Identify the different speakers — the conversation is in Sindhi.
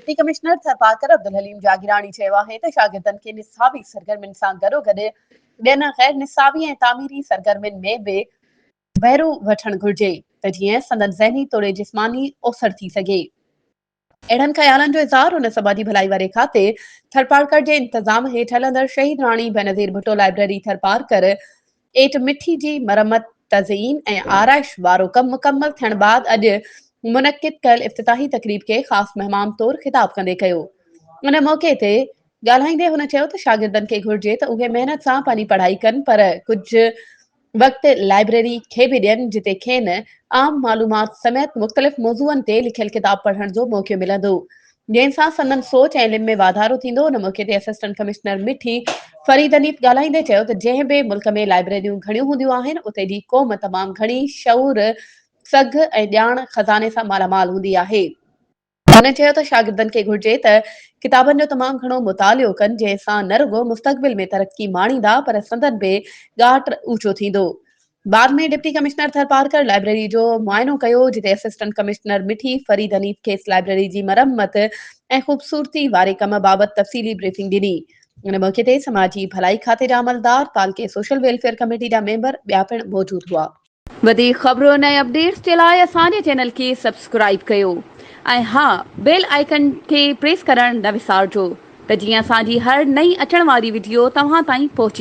Speaker 1: ڊپٽي ڪمشنر ٿرپارڪر عبدالحليم جاگيراڻي چيو آهي ته شاگردن کي نصابي سرگرمين سان گڏوگڏ ٻين غير نصابي ۽ تعميري سرگرمين ۾ به بهرو وٺڻ گهرجي ته جيئن سندن ذهني توڙي جسماني اوسر ٿي سگهي. اهڙن خيالن جو اظهار هن سماجي ڀلائي واري کاتي ٿرپارڪر جي انتظام هيٺ هلندڙ شهيد راڻي بينظير ڀٽو لائبريري ٿرپارڪر، ايٽ مٺي جي مرمت، تزئين ۽ آرائش وارو ڪم مڪمل ٿيڻ بعد اڄ منعقد ڪيل افتتاحي تقريب کي خاص مهمان طور خطاب ڪندي ڪيو. ان موقعي تي ڳالهائيندي هن چيو ته شاگردن کي گهرجي ته اهي محنت سان پنهنجي پڙهائي ڪن پر ڪجهه وقت لائبريري کي به ڏين جتي کين عام معلومات سميت مختلف موضوعن تي لکيل ڪتاب پڙهڻ جو موقعو ملندو جنهن سان سندن سوچ ۽ علم ۾ واڌارو ٿيندو، ان موقعي تي اسسٽنٽ ڪمشنر مٺي فريد انيت ڳالهائيندي چيو ته جنهن به ملڪ ۾ لائبريريون گهڻيون هونديون آهن اتي جي قوم تمام گهڻي شعور، سگهه ۽ ڄاڻ خزاني سان مالا مال هوندي آهي. هن چيو ته شاگردن کي گهرجي ته ڪتابن جو تمام گهڻو مطالعو ڪن جنهن سان نه رڳو مستقبل ۾ ترقي ماڻيندا پر سندن به ڳاٽ اوچو ٿيندو. بعد ۾ ڊپٽي ڪمشنر ٿرپارڪر لائبريري جو معائنو ڪيو جتي اسسٽنٽ ڪمشنر مٺي فريد حنيف کيس لائبريري جي مرمت ۽ خوبصورتي واري ڪم بابت تفصيلي بريفنگ ڏني ان موقعي تي سماجي ڀلائي کاتي جا عملدار تعلقي سوشل ويلفيئر ڪميٽي جا ميمبر ٻيا پڻ موجود هئا. وڌيڪ خبرون ۽ اپڊيٽس جي لاء اسان جي چينل کي سبسڪرائيب ڪيو ۽ ها بيل آئيڪن کي پريس ڪرڻ نه وسارجو ته جيئن اسان جي هر نئين اچڻ واري وڊيو توهان تائين پهچي.